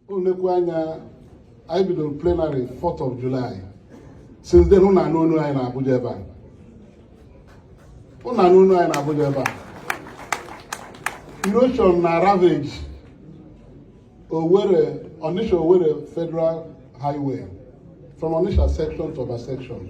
olekwu anya anyị bidoro plenary 4th of July since then ụnụ anụ onu anyị na Abuja ebe a ụnụ anụ onu anyị na Abuja ebe a erosion na ravage Owerri Onitsha Owerri Federal Highway from Onitsha section to Oba section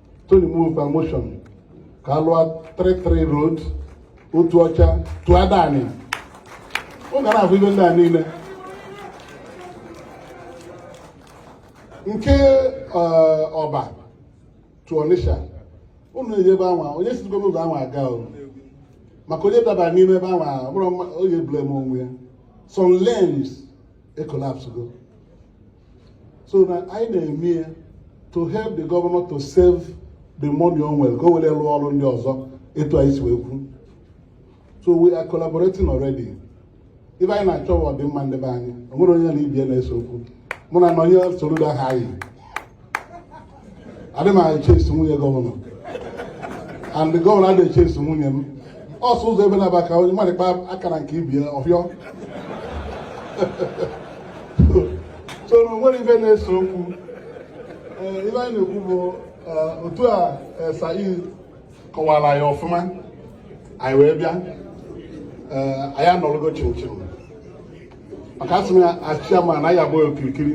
Tony e move a motion ka a lụọ 33 road Otuocha to Adani ọ gara ahụ ive ndị a niile nke Oba to Onitsha unu eje ebe anwa onye sigo n'ụzọ anwa aga o maka onye daba n'ime ebe anwa bụrụ onye blame onwe ya some lanes e collapsego so na anyị na-eme ya to help the governor to save the money o nwere ka o were rụọ ọrụ ndị ọzọ etu anyị si wee kwu so we are collaborating already ive anyị na-achọ wụ ọdịmma ndị be anyị o nwere onye na ibie na-ese okwu mụ na Nonye Soludo hai adị m e chase nwunye gọvanọ and gọvanọ adị e chase nwunye m ọsọ ụzọ ebe na-aba ka onye mmadụ kpa aka na nke ibie ọ fịọ so na onwere ive na-ese okwu eh, ive anyị na-ekwu bụ eh, otu a eh, said kọwara ya ọfụma anyị wee bịa anyị are no longer children maka asị m ya as chairman na ya abụghị okirikiri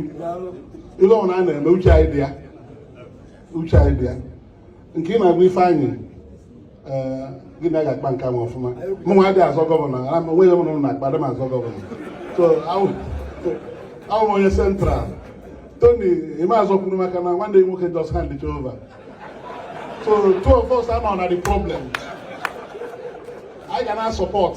ive ọbụla a na-eme uche anyị dị ya uche anyị dị ya nke ị na-agwa ife anyị eh, gị na ga-akpa nke ahụ ọfụma mụ nwa adịghị azọ gọvanọ onweghị m na na-akpa adị m azọ gọvanọ so awụ m onye central tony ama azọ kwuru maka na nwanne ya nwoke just handed over so two of us are not the problem anyị ga na support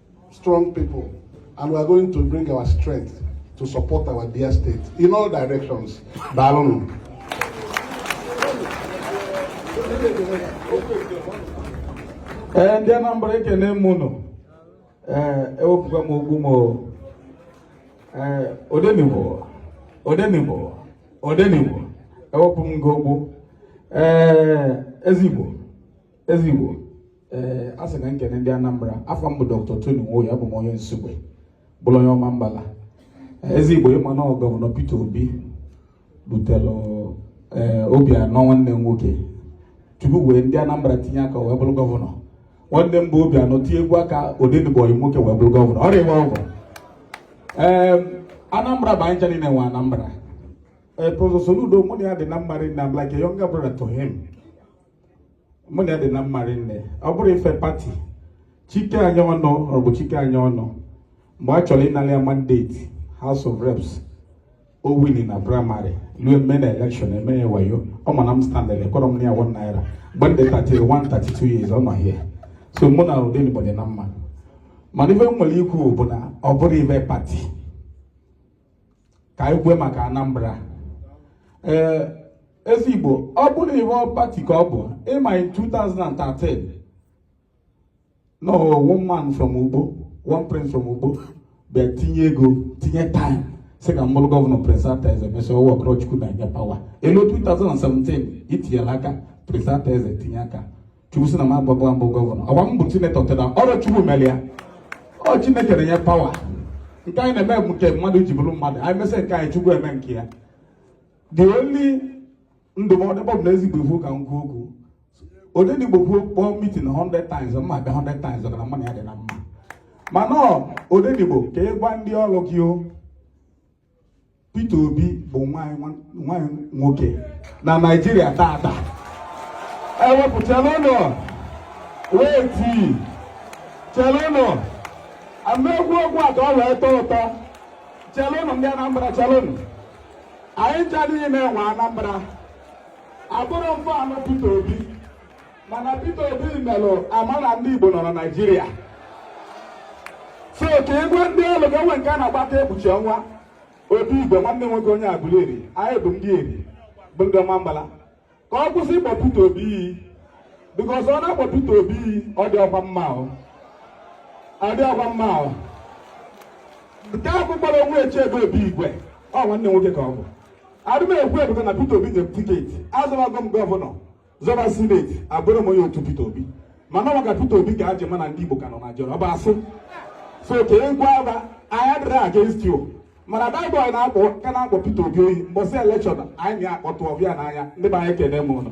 strong people and we are going to bring our strength to support our dear state in all directions. Daalụnụ. Ee eh, ndị Anambra ekene m ụnụ ee eh, ewepụga m okpu m ee eh, odenigbo odenigbo odenigbo ewepụ m gị okpu ee ezigbo ezi igbo ee eh, a sị ka m kene ndị anambra afa m bụ dr tony nwoye abụ m onye nsugbe bụrụ onye Omambala eh, ezi igbo ịma na gọvanọ peter obi butere eh, Obiano nwanne m nwoke tupu wee ndị anambra tinye aka wee bụrụ gọvanọ nwanne m bụ Obiano tinyekwu aka odenigbo ọyị nwoke wee bụrụ gọvanọ ọrịa ịgba ọgwụ ee anambra bụ anyị ncha niile nwe anambra ee prọfesọ Soludo mụ na ya dị na mma rinne I'm like a younger brother to him mụ na ya dị na mma rinne ọ bụrụ ife pati chike anyaọnụ ọ bụ chike anyaọnụ mgbe a chọrọ ịnara ya mandate house of reps o wini na praịmarị ruo mme na elekshọn e mee ya wayo ọ ma na m standard ekọrọ m na ya one naira mgbe m dị 31 32 years ọ nọ here so mụ na odenigbo dị na mma mana ife m nwere ikwu bụ na ọ bụrụ ife pati ka anyị kwue maka Anambra ee ezi Igbo ọ bụrụ ihe pati ka ọ bụ ị ma in 2013 na one man from Ukpo one prince from Ukpo bịa tinye ego tinye time sị ka m bụrụ gọvanọ Prince Arthur Eze mesịa ọ workụrọ Chukwu na-enye pawa e lue 2017 itinyela aka Prince Arthur Eze tinye aka chukwu sị na m agbagba mbụ gọvanọ ọgba m bụ sinetọ taa na ọ bụ chukwu mere ya ọ chineke na-enye pawa nke anyị na-eme bụ nke mmadụ ji bụrụ mmadụ anyị mesịa nke anyị chukwu eme nke ya the only ndụmọdụ ebe ọ bụ na ezigbo ifu ka m kwuo okwu odenigbo kpọọ mitin 100 times mụ abịa 100 times ọ mara mụ na ya dị na mma mana ọ odenigbo ka ị gwa ndị ọrụ gị o Peter Obi bụ nwa anyị nwoke na Naịjirịa taata ewepụ chelụnụ wait chelụnụ ka m kwuo okwu a ka ọ wee tọọ ụtọ chelụnụ ndị Anambra chelụnụ anyị ncha niile nwe Anambra abụrọ m fan of Peter Obi mana Peter Obi melụ a ma na ndị Igbo nọ na Naịjirịa so ka ị gwa ndị ọlụ gị enwe nke a na-agbata ekpuchi ọnwa obi igwe nwanne m nwoke onye Aguleri anyị bụ ndị Eri bụ ndị Ọmambala ka ọ kwụsị ịkpọ Peter Obi iyi bikos ọ na-akpọ Peter Obi iyi ọ dịrọkwa mma ọ dịrọkwa mma o nke ahụ kpọrọ onwe eche ebe obi igwe ọ nwanne m nwoke ka ọ bụ adị m ekwu maka na Peter Obi nye tiketi azọbago m gọvanọ zọba sineti abụrọ m onye otu Peter Obi mana ọ maka Peter Obi ka a ji ma na ndị Igbo ka nọ Naịjirịa ọ bụ asị so ka ị gwa fa anyị adịrọ against you mana baịbụl na-akpọ ka na-akpọ Peter Obi iyi mbọsị elekshọn anyị na-akpọtụ ọbịa n'anya ndị be anyị ekene m ụnụ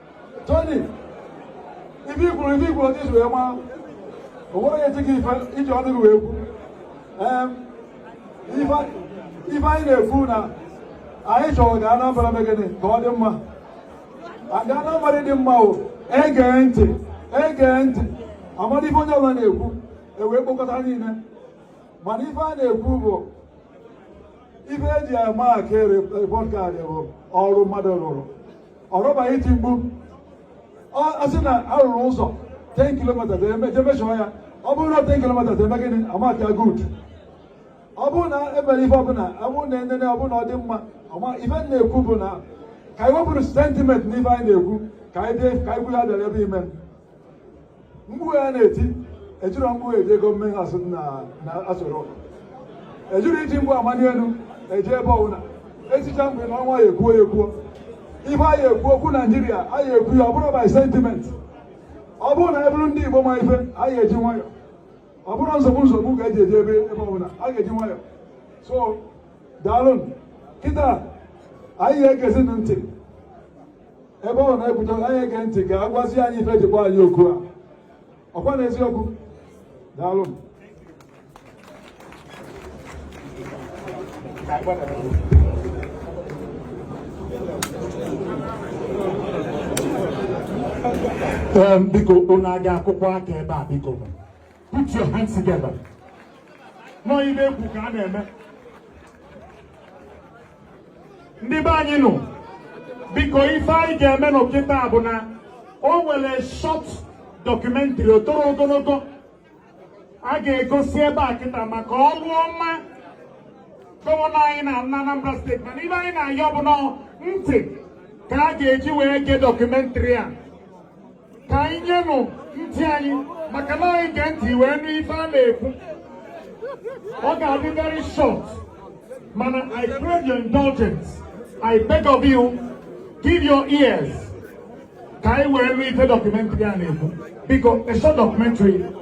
Tony ife i kwuru ife i kwuru otu i si wee maa o nwere onye tie gị ife i ji ọnụ gị wee kwu Em, ife ife anyị na-ekwu na anyị chọrọ ka Anambra mee gịnị ka ọ dị mma aga Anambra dị mma o e gee ntị e gee ntị a mara ife onye ọbụla na-ekwu e wee kpokọta niile mana ife a na-ekwu bụ ife e ji ama aka repọt kaadị bụ ọrụ mmadụ rụrụ ọrọ by iti mkpu a sị na a rụrụ ụzọ 10 kilomita je measure ya ọ bụrụ na 10 kilomita eme gịnị amaka good ọ bụrụ na e mere ife ọbụla ọ bụrụ na enene ọ bụrụ na ọ dị mma ife na-ekwu bụ na ka anyị wepụrụ sentiment n'ife anyị na-ekwu ka anyị bịa ka anyị bụrụ ya bịara ebe ime mkpu a na-eti ejirọ mkpu eje ego mmehie asụ na asụrụ ụka ejirọ iji mkpu amani elu eje ebe ọbụla etichaa mkpu anọọ nwayọ ekwuo ya ekwuo ife anyị ekwu okwu naijiria anyị ekwu ya ọ bụrọ by sentiment ọ bụrụ na a bụrụ ndị igbo ma ife anyị eji nwayọ ọ bụrọ nsogbu nsogbu ka e ji eje ebe ọbụla a ga-eji nwayọ so daalụ kịta anyị ga-egezi ntị ebe ọ na-ekwudo anyị ege ntị ka a gwazi anyị ife e ji kpọọ anyị oku a ọkwa na eziokwu daalụ biko unu aga akụkọ aka ebe a biko Put your hands together. Nọ ife ekwu ka a na-eme. Ndị be anyị nụ, biko ife anyị ga-emenụ kịta bụ na o nwere short documentary o torọ ogologo a ga-egosi ebe a kịta maka ọrụ ọma gọvanọ anyị na Anambra steeti mana ife anyị na-ayọ bụ na ntị ka a ga-eji wee gee dọkụmentrị a ka anyị nyenụ ntị anyị maka na anyị gee ntị wee nụ ife a na-ekwu ọ ga-adị very short mana I crave your indulgence I beg of you give your ears ka anyị wee nụ ife dọkụmentrị a na-ekwu biko a short documentary